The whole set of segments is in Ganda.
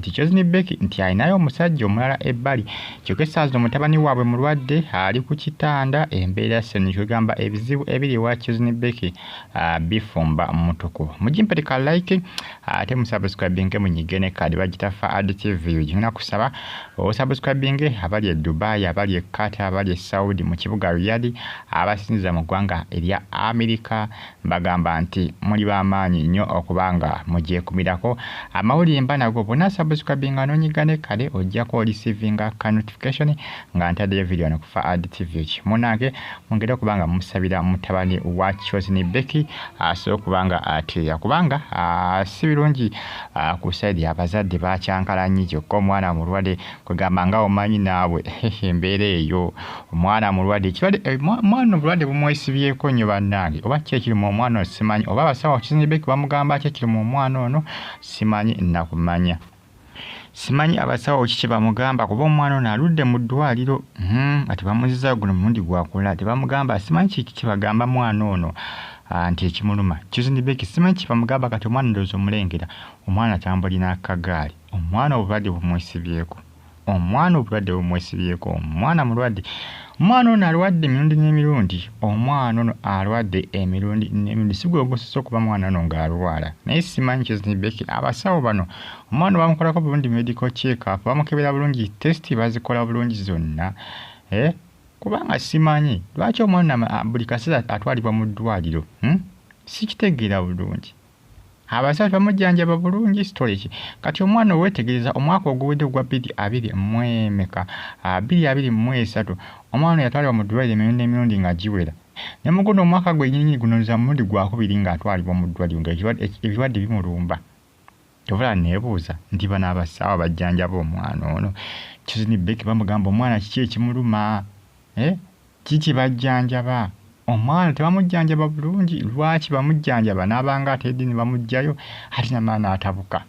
nti Chosen Becky nti alinayo omusajja omulala ebbali kyokka essaawa zino mutabani waabwe mulwadde ali ku kitanda embeera ssenyu kwegamba ebizibu ebiri ewa Chosen Becky ah, bifumba mutuku mugimpete ka like ah, ate musubscribinge munyige ne kaadi bagitafa ad tv gigenda kusaba osubscribinge abali e Dubai abali e Qatar abali e Saudi mu kibuga Riyadh abasinziza mu ggwanga erya Amerika Mbagamba nti muli ba maanyi nyo okuba nga mugyekumirako. Amawulire mba nago bwona subscribinga nonyiga ne kale ojjako olisivinga ka notification nga ntadeyo video no kufa ad tvh. Munange mwongere okuba nga musabira mutabani wa chosen Becky asobole okuba nga atereera kubanga sibilungi ku side ya bazadde bakyankalannyi kyokka omwana mulwade kwegamba nga omanyi naawe embeera eyo omwana mulwadde ekirwadde eh, mwana obulwadde bumwesibyeko nnyo bannange oba ki ekiri mu omwana ono simanyi oba abasawo kizinibeki bamugamba ki ekiri mu omwana ono simanyi nakumanya simanyi abasawo ki kyebamugamba kuba omwana ono aludde mu ddwaliro hmm, nga tebamuziza guno mulundi gwakula tebamugamba simanyi kiki kyebagamba mwana ono ah, nti ekimuluma kizinibeki simanyi kyebamugamba kati omwana ndoozi omulengera omwana atambulina akagaali Omwana obulwadde bumwesibyeko omwana obulwadde bumwesibyeko omwana mulwadde omwana ono alwadde emirundi n'emirundi omwana ono alwadde emirundi n'emirundi si gwegusisa okuba mwana ono ng'alwala naye simanyi kizibeki abasawo bano omwana bamukolako bulungi medical check up bamukebera bulungi test bazikola bulungi zonna eh? kubanga simanyi lwaki omwana buli kaseera atwalibwa mu ddwaliro hmm? sikitegeera bulungi Abasawo tebamujjanjaba bulungi story ki? Kati omwana owetegereza omwaka oguwedde ogwa bbiri abiri mu emeka ah, bbiri abiri mu esatu omwana yatwalibwa mu ddwaliro emirundi emirundi nga giwera ne mu guno omwaka gwenyinyini guno nza mulundi gwakubiri ng'atwalibwa mu ddwaliro nga ebirwadde bimulumba kyovula neebuuza nti bano abasaawa bajjanjaba omwana ono kizini beki bamugamba omwana kiki ekimuluma eh? Kiki bajjanjaba? Omwana tebamujjanjaba bulungi? Lwaki bamujjanjaba n'aba nga atedde ne bamuggyayo ate namala n'atabuka?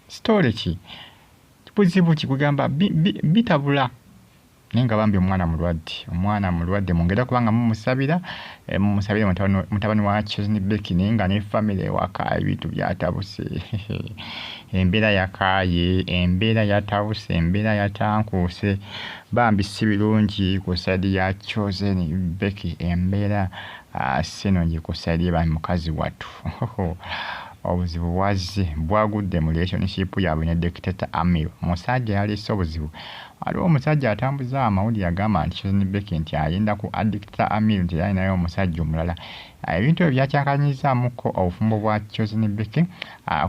Sitoole ki? Buzibu ki? Kwegamba bitabula naye nga bambi omwana mulwadde. Omwana mulwadde mwongere okuba nga mumusabira. Eh, musabire mutabani wa chesni bekini nga ne famiry ewaka ebintu byatabuse embeera yakaaye embeera yatabuse embeera yatankuuse bambi si birungi ku saidi ya chosen beki embeera ah, sinungi ku saidi eba mukazi wattu obuzibu bwazze bwagudde mu relationship yaabwe ne dictato amir musajja yalese obuzibu waliwo omusajja atambuza amawulire agamba nti chosen beki nti ayenda ku addict Kya Amir nti alinayo omusajja omulala. Ebintu ebyo byakyakanyizzaamukko obufumbo bwa Chosen Becky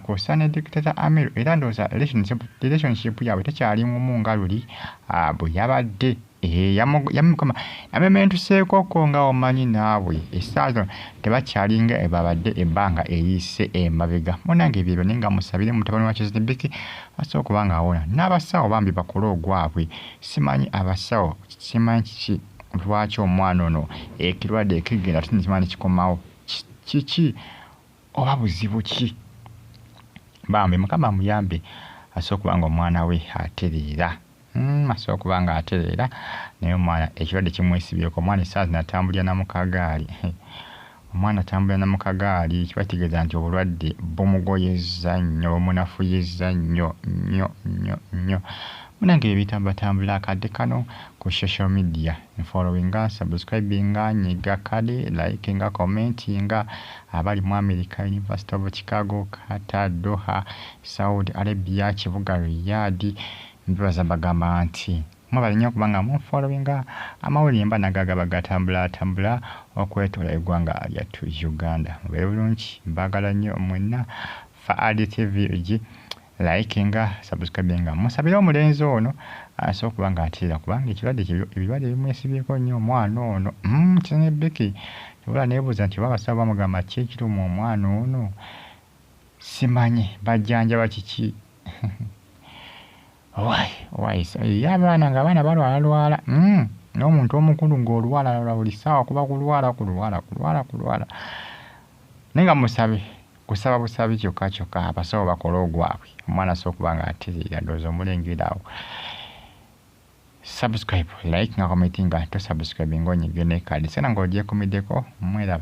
kw'ossa ne dictator Amir era ndowooza relationship yaabwe tekyali ngumu nga luli bwe yabadde. Eh, yamukoma namementuseekoko nga omanyi naawe essaawa zino tebakyalinga ebabadde ebbanga eriyise emabega munange ebyebyo naye nga musabire mutabani wa kizinibiki asobola okuba nga awona n'abasawo bambi bakole ogwabwe simanyi abasawo simanyi kiki lwaki omwana ono ekirwadde ekigenda tunikima nekikomawo kiki oba buzibu ki bambi mukama amuyambe asobola okuba nga omwana we atereera hmm, asobola okuba nga atereera naye omwana ekirwadde kimwesibyeko omwana esaazi natambulira namukagaali Omwana atambula na mu kagaali kiba kitegeeza nti obulwadde bumugoyezza nnyo, bumunafuyizza nnyo nnyo nnyo nnyo. Munange ebyo ebitambulatambula akadde kano ku social media, nfollowinga, nsubscribinga, nyiga kale, likinga, commentinga, abali mu America, University of Chicago, Qatar, Doha, Saudi Arabia, kibuga Riyadh, mbebaza mbagamba nti. Mwebale nyo okuba nga mu followinga amawulire mba nago agaba gatambula tambula okwetola egwanga lyattu Uganda. Mubere bulungi mbagala nyo mwenna Faadi TV gi likinga, subscribinga musabire omulenzi ono asobole okuba nga ateera kubanga ekirwadde kye ebirwadde bimwesibyeko nnyo omwana ono mm kyenye Becky wabula nebuuza nti oba abasawo bamugamba ki ekiruma omwana ono simanyi bajjanjaba kiki Why? Why? So, ye abaana nga abaana balwala lwala. Mm. N'omuntu omukulu ng'olwala lwala buli ssaawa kuba kulwala kulwala kulwala kulwala. Naye nga musabe kusaba busabi kyokka kyokka abasawo bakole ogwabwe omwana asobola okuba nga atereera ndowooza omulengera awo. Subscribe, like nga commentinga to subscribe ng'onyige ne kadi. Sena ng'ogyekumiddeko mweraba.